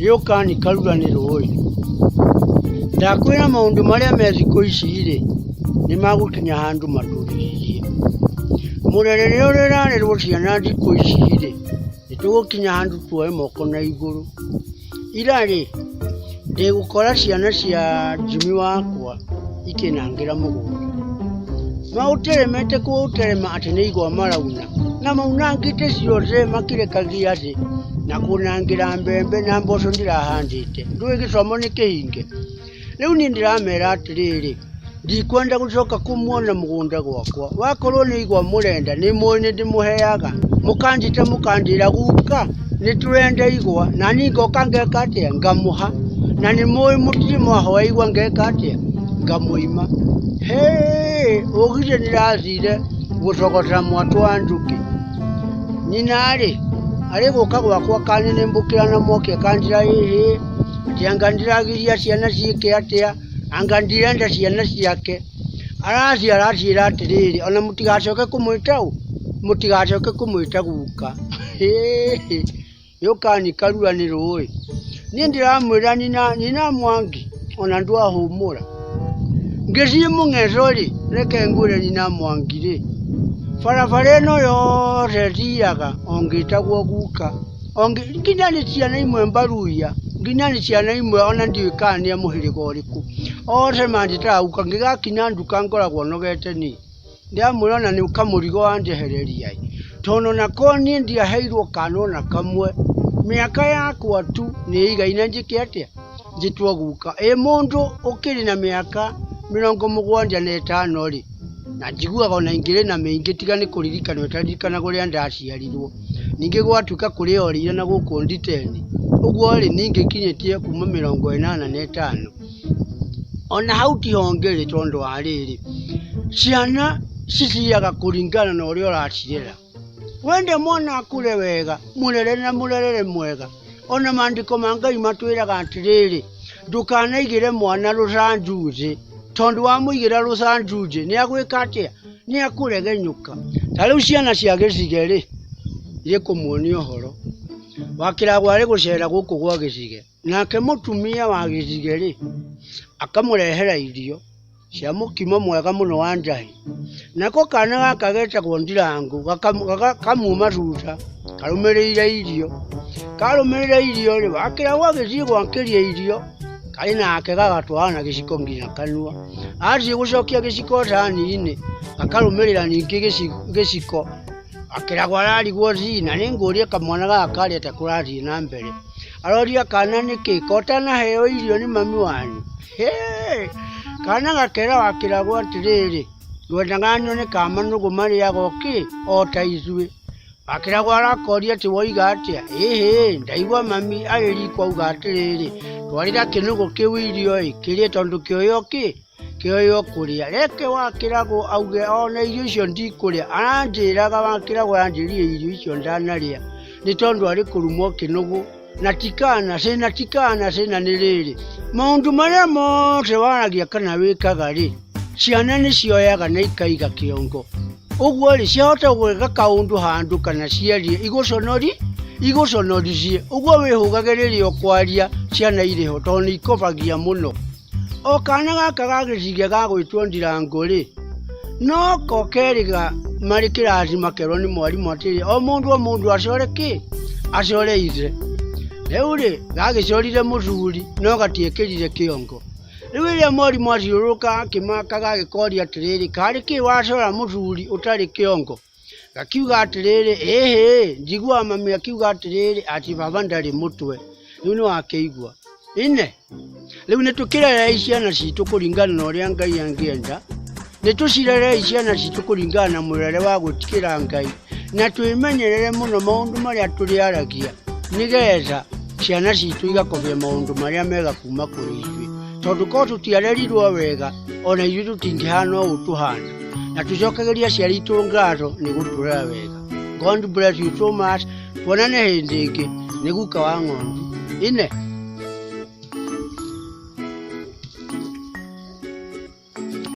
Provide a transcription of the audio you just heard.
rĩũka nĩkarura nĩ rũĩ ndakwĩra maũndũ marĩa me thikũ ici rĩ nĩ magũkinya handũ matũrĩrĩrie mũrere rĩrĩa ũrĩrarerwo ciana thikũ ici rĩ nĩ tũgũkinya handũ tuoe moko na igũrũ Ira rĩ, ndĩgũkora ciana cia Jimmy wakwa ikĩnangĩra mũgũnda. Maũteremete kũũterema atĩ nĩ igwa marauna, na maunangĩte ciothe makĩrekagia thĩ na kũnangĩra mbembe na mboco ndĩrahandĩte. Ndũĩ gĩthomo nĩ kĩhinge? Rĩu niĩ ndĩramera atĩrĩrĩ, ndikwenda gũcoka kũmuona mũgũnda gwakwa. Wakorwo nĩ igwa mũrenda, nĩ mũĩ nĩ ndĩmũheaga. Mũkanjĩta mũkanjĩra guka, nĩ tũrenda igwa, na niĩ ngoka ngeka atĩa? Ngamũha. Na nĩ mũĩ mũtirĩ mwahoya igwa ngeka atĩa? Ngamũima. Hĩ, ũgire ndĩracire gũcogota mwatũ wa njũkĩ. Nyina-rĩ, arĩ gũka gwakwa akanĩnĩmbũkĩra na mwaki akanjĩra ĩhĩ. Atĩ anga ndĩragiria ciana ciĩke atĩa, anga ndirenda ciana ciake. Araciara aciĩra atĩrĩrĩ, ona mũtigacoke kũmwĩta ũ? Mũtigacoke kũmwĩta guka. Hĩhĩ! Yũkani karua nĩ rũĩ. Niĩ ndĩramwĩra nyina, nyina Mwangi ona ndwahũmũra. Ngĩthiĩ mũng'etho-rĩ, reke ngwĩre nyina Mwangi-rĩ, barabara ĩno yothe thiaga o ngĩtagwo guka. O nginya nĩ ciana imwe mbaruhia, nginya nĩ ciana imwe ona ndiũĩ kana nĩ a mũhĩrĩga ũrĩkũ. Othe manjĩtaga guka, ngĩgakinya nduka ngoragwo nogete niĩ. Ndĩramuona ona nĩ kamũrigo anjehereria ĩ, tondũ ona korwo niĩ ndiaheirwo kana ona kamwe, mĩaka yakwa tu nĩ ĩigaine njĩke atĩa, njĩtwo guka. Ĩ mũndũ ũkĩrĩ na mĩaka mĩrongo mũgwanja na ĩtano rĩ, na njiguaga ona ingĩrĩ na mĩingĩ tiga nĩ kũririkanwo itaririrkanaga ũrĩa ndaciarirwo. Ningĩ gwatuĩka kũrĩ o riira na gũkũ Nditeni, ũguo-rĩ, niĩ ngĩkinyĩtie kuuma mĩrongo ĩnana na ĩtano. O na hau ti honge-rĩ, tondũ wa rĩrĩ, ciana ciciaga kũringana na ũrĩa ũracirera. Wenda mwana akũre wega, mũrere na mũrerere mwega. O na maandĩko ma Ngai matwĩraga atĩrĩrĩ, ndũkanaigĩre mwana rũcanju thĩ, tondũ wamũigĩra rũcanju thĩ, nĩ egwĩka atĩa? Nĩ ekũregenyũka. Ta rĩu ciana cia gĩcige-rĩ, nĩĩkũmuonia ũhoro. Wa kĩrago arĩ gũcera gũkũ gwa gĩcige. Nake mũtumia wa gĩcige-rĩ, akamũrehera irio cia mũkimo mwega mũno wa njahĩ. Nako kana gaka getagwo Ndirangũ, gakamuuma thutha karũmĩrĩire irio. Karũmĩrĩire irio-rĩ, wa kĩrago agĩthiĩ gwakĩria irio. karĩ nake gagatwarana na gĩciko nginya kanua athiĩ gũcokia gĩciko thani-inĩ akarũmĩrĩra ningĩ gĩci- gĩciko akĩragwo ararigwo zina nĩ ngũria kamwana gaka karĩa ta kũrathiĩ na mbere aroria kana nĩkĩ kotanaheo irio nĩ mami wanyu Hĩĩ! kana gakera wakĩragwo atĩrĩrĩ ngwendaga nyone ka manũgũ marĩaga o kĩ o ta ithuĩ Akĩragwo arakoria atĩ woiga atĩa? Ĩhĩ, ndaigua mami arĩ riko auga atĩrĩrĩ, twarĩra kĩnũgũ kĩu irio-ĩ, kĩrĩe tondũ kĩoyo kĩ kĩoyo kũrĩa. Reke wakĩragwo auge ona irio icio ndikũrĩa, aranjĩraga wakĩragwo aranjĩrire irio icio ndanarĩa nĩ tondũ arĩ kũrumwo kĩnũgũ. na tikana se na tikana se na nĩ rĩrĩ maũndũ marĩa mothe waragia kana wĩkaga rĩ ciana nĩ cioyaga na ikaiga kĩongo ũguo rĩ ciahota gwĩka kaũndũ handũ kana ciarie igũconori igũconoricie ũguo wĩhũgage rĩrĩa ũkwaria ciana irĩ ho tondũ nĩ ikobagia mũno O kaana gaka ga gĩciige ga gwĩtwo Ndirango rĩ, no ko kerĩ marĩ kĩrathi makerwo nĩ mwarimũ atĩrĩ, o mũndũ o mũndũ acore kĩ? Acore ithe. Rĩu rĩ, gagĩcorire mũthuri no gatiekĩrire kĩongo. Rĩu rĩrĩa mwarimũ athiũrũrũka akĩmaka gagĩkoria atĩrĩrĩ, karĩ kĩ wacora mũthuri ũtarĩ kĩongo? gakiuga atĩrĩrĩ ĩhĩ njiguaga mami akiuga atĩrĩrĩ ati baba ndarĩ mũtwe rĩu nĩ wakĩigua ine rĩu nĩ tũkĩrerei ciana citũ kũringana na ũrĩa ngai angĩenda nĩ tũcirerei ciana citũ kũringana na mũrere wa gwĩtigĩra ngai na twĩmenyerere mũno maũndũ marĩa tũrĩaragia nĩgetha ciana citũ igakobia maũndũ marĩa mega kuma kũrĩ ithuĩ tondũ korwo tũtiarerirwo wega ona ithuĩ tũtingĩhana ũũ tũhana na tũcokageria aciari itũ ngatho nĩ gũtũrera wega god bless you so much tuonane hĩndĩ ĩngĩ nĩ guka wa ng'ondu ine